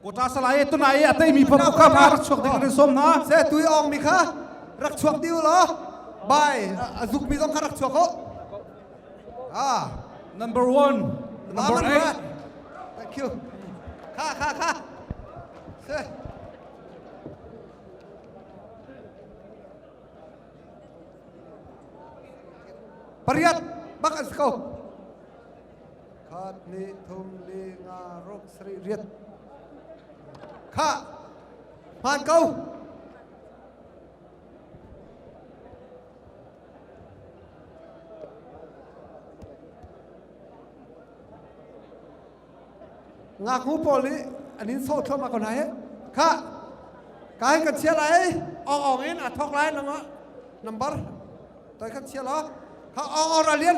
kota salai e tunai a tei mi phamu ka ma rak chuak ding kan som na se tui ong mi kha rak chuak diu lo bai a zuk mi zong kha rak chuak ho ah number 1 number 8 thank you kha kha kha se pariat bak as ko Khat le thum le nga rok sarih riat. Khah! Hman ko! ngaknu pawl nih an in sawh thluam ko hna hi kha ka hin kan chia lai ong ong in a thok lai nang nambar toi kan chia lo kha ong ong ra lian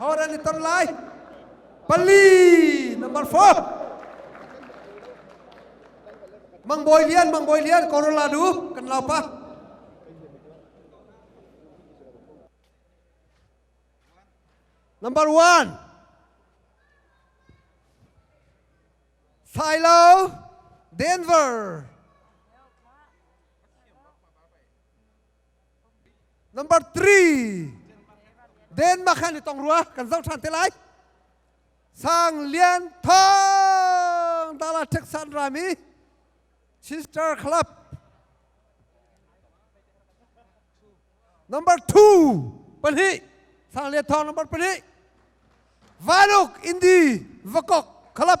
Hor an i ton lai. Pali number four. Mang Bawi Lian, Mang Bawi Lian, Colorado, kan lau pa. Number one. Philo, Denver. Number three, Denmark han i tong rua kan zoh ṭhan te lai. Sang Lian Thawng Dala Texan rami Sister Club. Number two pahnih Sang Lian Thawng number pahnih Vanuk Indi Vakok Club.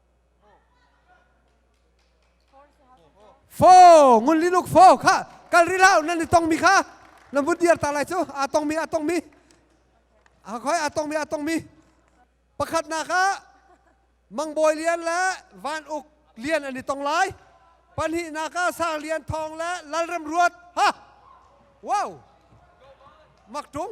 Fo ngun li luk fo kha kal ri lao nan ni tong mi kha na mun diar ta lai cu a tong mi a tong mi a khoi a tong mi a tong mi pakhat na kha mangbawi lian le van uk lian an i tong lai panhi na ka sang lian thong le lalrem ruat ha wow mak tung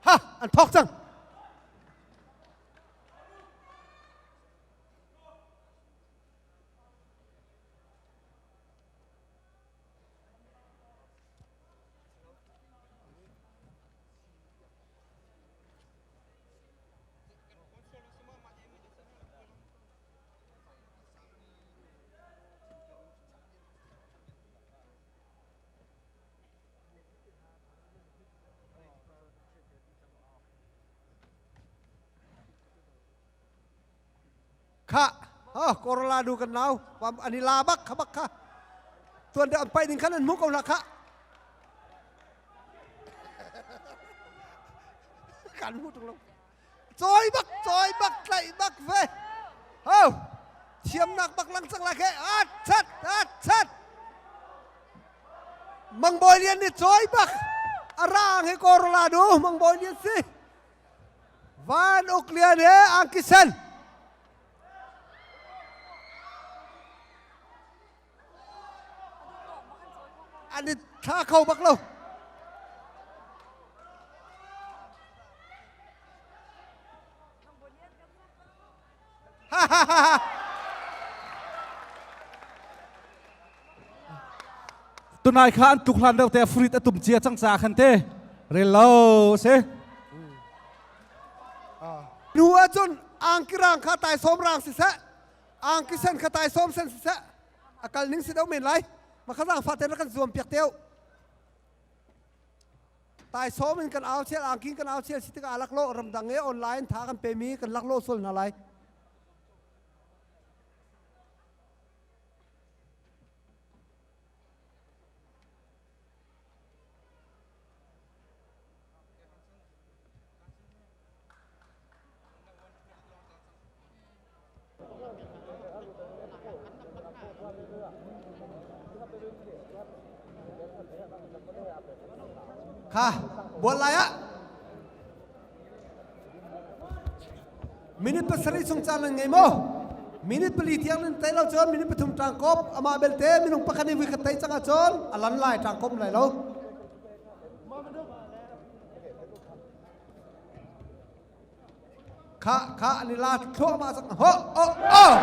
Ha! An phok cang. kha oh korla du kan nau pam ani la bak kha bak kha tuan de ampai ding khan an mu ko na kha kan mu tung lo cawi bak cawi bak tlaih bak ve ho thiamnak bak langsang la khe at chat at chat mang boy lian ni cawi bak arang he korola du mang boy lian si van uk lian he angkisen thla kho bak lo ha ha ha ha tunai kha an tluk hlan deuh te fruit atum chia chang sa khan te rel lo se nu acun angkirang kha tai som rang si se angkisen kha tai som sen siseh akal ning si do men lai makhazang fa ten kan zuam piak teu tai som in kan au chel angking kan au chel sitika alak lo ramdang e online tha kan pe mi kan lak lo sol na lai Kha buat lai ah minute pasarih sung caan nan ngei maw minute pali tiang nan tei lo cun minute pathum ṭangkop amah belte minung pakhat nih vui ka tei cang ahcun a lan lai ṭangkop lai lo Kha kha an i la thluahmah cang ho oh oh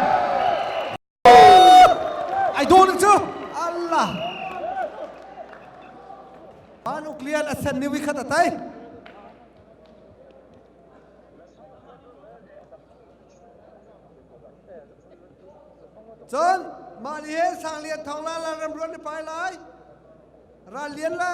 ai du na cu Allah ma nuclear a sen ni wi khat tai cun mah ni he sang lian thong la la ram ruan ni pai lai ral lian le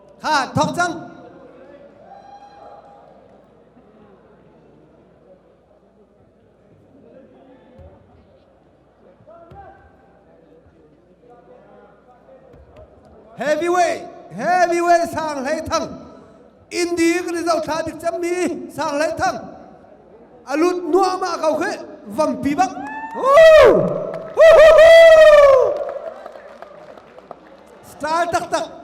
ha thok cang heavyweight heavyweight sang hlei thang indi kan i zohthla dik cemmi sang hlei thang a lut nuahmah ko khi vampi bak Style taktak.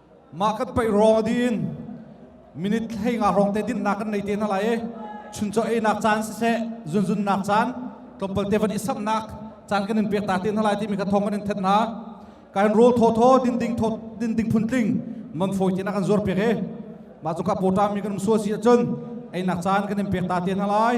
mah kan paih ruang a din minute hlei nga hrawng te dinhnak kan nei te hna lai i chuncaw einak caan siseh zunzunnak caan tlawmpal te van i samnak caan kan in pek ta te hna lai timi kha thawng kan in thet hna kan rawl thaw thaw din ding thaw din ding phun tling man fawi te nak kan zuar pek e mah cu ka pota mi kan sual si ahcun einak caan kan in pek ta te hna lai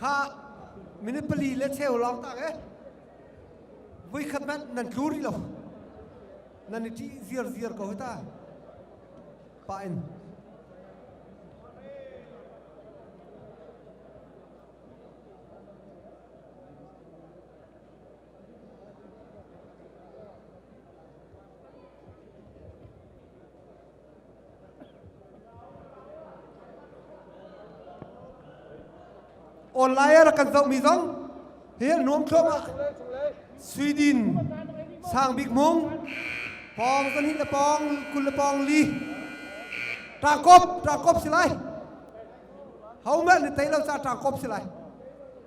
kha minute pali le cheu lawng tak e vui khat man nan tlu rih lo nan i ṭih ziar ziar ko ta pa in online ah kan zohmi zong hi nuam thluam ah Sweden sang bik mung pong kan hin le pong kul le pong li takop takop si lai hau mel ni tei lo sa takop si lai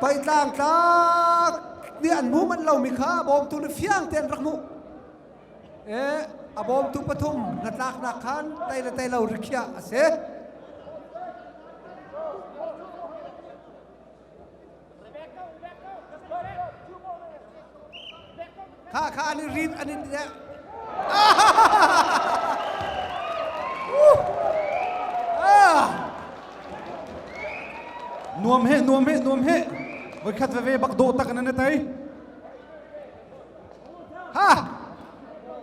Paitlang tlak ni an hmu manh lomi kha bawmtu le fiang tein rak hmuh. E, a bawmtu pathum hnatlaknak khan tei le tei lo rikhiah a si. Kha kha an i rin an in deh. Nuam he nuam he nuam he voi khat veve bak do tak nan tai ha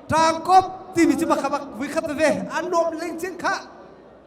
tangkop ti mi ci bak bak voi khat ve an nuam leng chin kha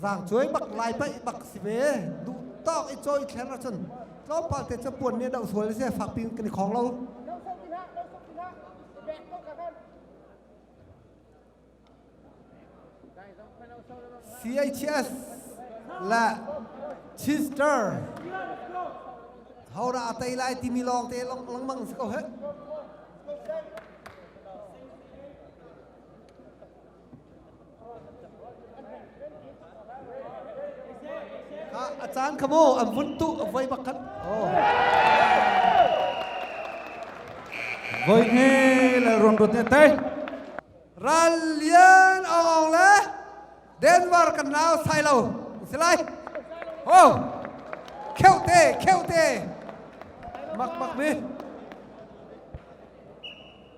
Zangcuai bak lai pai bak si ve. Du tawk i choi thler na cun tlawmpal te cu puan ne doh sual se fak pin kan i khong lo. No sok tin ha, no sok tin ha. Bek ko ka kan. CHS la Chister hora atai lai timi long te long langmang si ko he A caan kha maw an vun tu voi bak khan. Voi hne le runrut ne tai. Ral lian ong le Denver kan nau sai lo islai. Ho kheu te kheu te mak mak mi.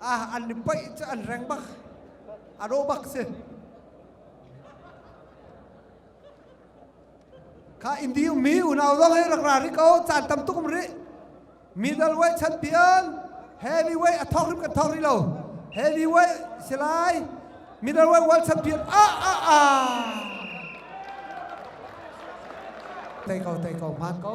ah an pai cu an reng bak a ro bak si kha indi um mi unau zong hi rak ra ri ko caan tam tuk um ri middle way chan pian heavy way a thok rim kan thok ri lo heavy way silai middle way world champion a a a tei ko tei ko hman ko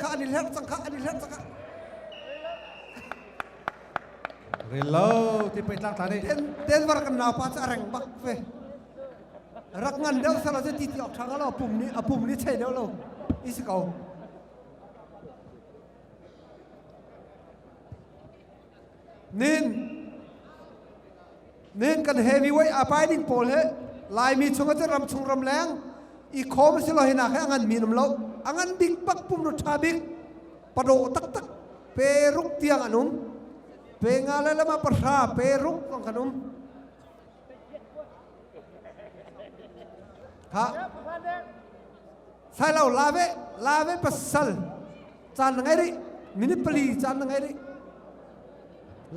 kha an i hlerh cang kha an i hlerh cang kha ril lo ti pei tlang tla ne ten ten var kan nau pa chu a reng bak ve rak ngan deuh sala chu ti ti ok thang lo pum ni a pum ni chei deuh lo is ko nin nin kan heavyweight a pai ding pawl he laimi chung ate ram chung ram leng i khom si lo hina he angan mi nam lo angan ding pak pum ru tha bik pado tak tak pe ruk tiang an um pe nga le lama pahra pe ruk kan um ha sai lo la ve la ve pasal chan na ngai ri minute pali chan na ngai ri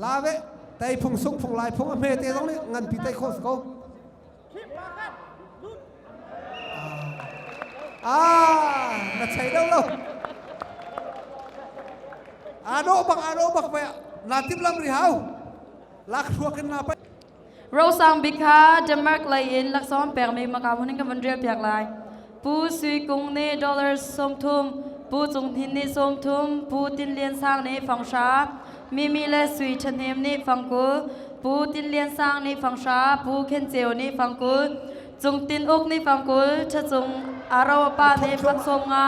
la ve tai phung sung phung lai phung a me te zong ni ngan pi tai khos ko ah na chai lo lo ano bang ano bak ve na tim lam ri hau lak thua kin na pa Rosang bik kha Denmark lei in laksawng pekmi makau ning ka van rel piak lai. Pu Sui Kung nih dollars sawmthum, Pu Cung Hnin nih sawmthum, Pu Tin Lian Sang nih fanghra, Mimi le Sui Ṭhahnem nih fangkul, Pu Tin Lian Sang nih fanghra, Pu Khen Ceu nih fangkul, Cung Tin Uk nih fangkul, Ṭha Cung Aro Pa nih faksawm nga,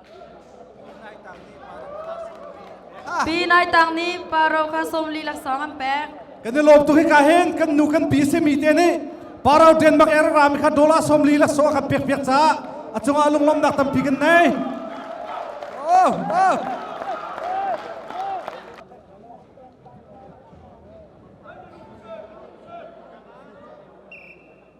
Pi Nai Tang nih Paro kha sawmli laksawng an pek. Kan i lawm tuk hika hin kan nu kan pi simi te nih Paro Denmark er rami kha dollar sawmli laksawng kan pek piak caah a cungah lunglawmnak tampi kan nei. Oh, oh.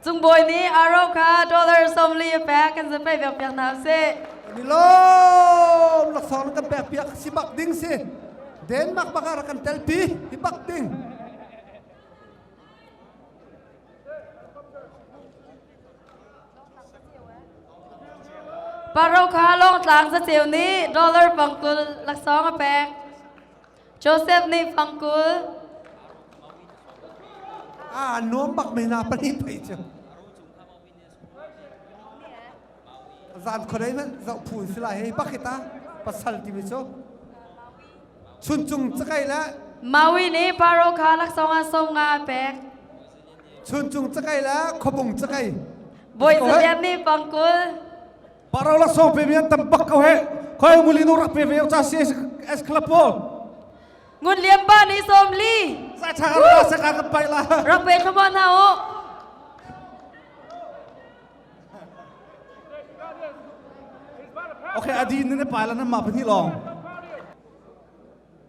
Cung Bawi nih aro kha dollar sawmli a pek kan zan pei viak piak hna sih. Kan i lawm laksawng kan pek piak si bak ding si. Denmark bak ah kan telpi i bak ding. Paro kha Lawngtlang zaceu nih dollar pangtul laksawng a pek. Joseph nih fangkul ah nuam bak men ah pahnih pei cu zan khuadei nan zoh phu si lai hei bak kita pasal timi cu chun cung cakai le Maui nih Paro kha laksawng ah som nga a pek chun cung cakai le khopung cakai bawi Ko hei. Zalian nih fangkul Parau la song pe mi an tam bak ko he. Khoi nguli no rak pe ve cha si es club po. Ngun liam pa ni som li. Sa cha la sa ka ka pai la. Rak pe thoma na o. Okay, adi ne ne pa la na ma pani long.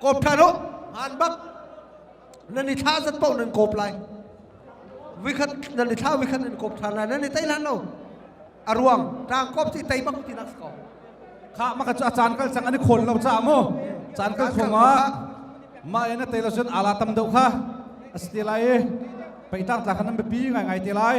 Kawp ṭhan u, han bak. Nan i thla zat paoh nan kawp lai. Vikhat nan i thla vikhat nan kawp ṭhan lai. Nan i tei lan lo. A ruang, ṭang kawp ti tei bak ti nak ko. Kha maka cu a caan kal sang an i khawl lo caah mu. Caan kal thongah ma ena tei lo cun ala tam deuh kha a si te lai i peitar tlak khan nan biapi ngai ngai te lai.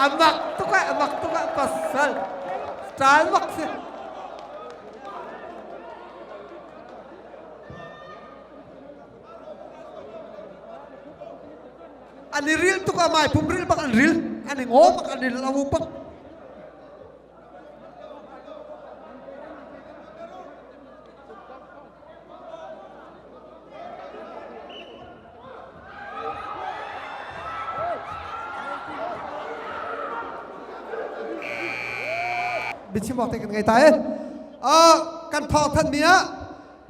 a mak tuk ah a mak tuk ah pasal ṭal mak si an i ril tuk ah mai pum ril bak an ril an i ngaw bak an i lo bak biachim awk te kan ngei ta e kan thawng than mi ah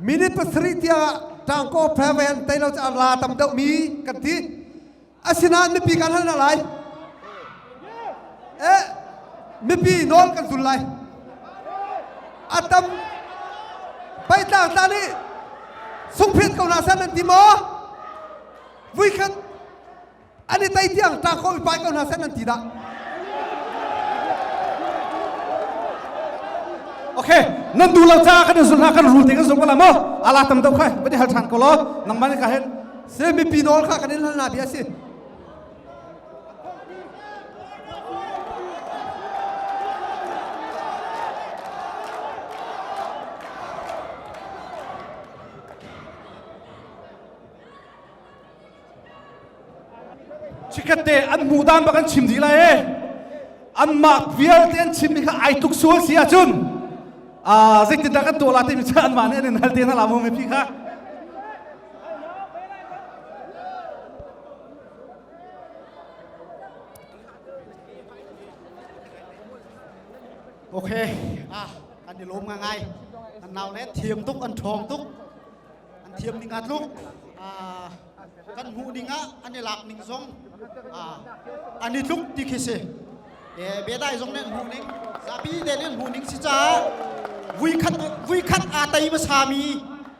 minute pasarih tiang ah ṭangkaw fairvan teilo cu a la tam deuh mi kan ti Asinain mipi kan hal hna lai. Eh, mipi nawl kan zul lai. A tam paitlak hna nih sungphit ko hna san an ti maw? Vui khan an i tei tiang ṭaako i pai ko hna san an ti dah. Okay, nan duh lo caah kan in zul hna kan rul te kan zul ko la maw? Ala tam deuh khai, va di hal ṭhan ko law nangmah nih ka hen Seh mipi nawl kha kan in halnak bia a si. Cikate an hmuh dan bak an chim dih lai ee. Anmah vialte an chim mi kha ai tuk sual si ahcun ah zeitindah kan tuah la timi cu anmah nih an in hal te hna la mu mi phi kha. Ok, ah, an i lawm nga ngai. An nau le thiam tuk, an ṭhawng tuk. An thiam ning atluk. Ah, kan hmuh ning ah an i lak ning zong ah, an i tluk ti khi si. Eh, bedai zong nih an hmuh ning, zapi te nih an hmuh ning si caah, vui khat, vui khat aa tei hmasa mi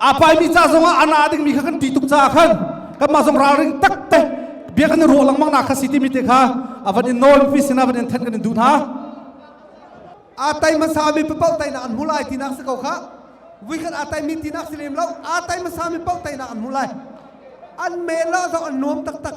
a paimi ca zongah a na dingmi kha kan ti tuk caah khan kanmah zong ralring takte bia kan i ruah lengmang na kha si timi te kha avan in nawl mipi sinah avan in thenh kan in duh hna a tai hmasa mi papau tai na an hu lai tinak si ko kha vui kan a tai mi tinak si lem lo a tai hmasa mi pau tai na an hu lai an mela zong an nuam taktak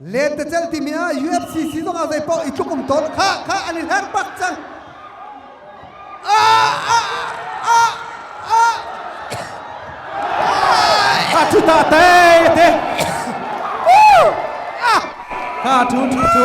Letecel timi ah UFCC zongah zeipaoh i tluk um tawn kha kha an i hler bak cang. Ah, ah, ah, ah. Ha cu ta te te. Ha tu thi cu.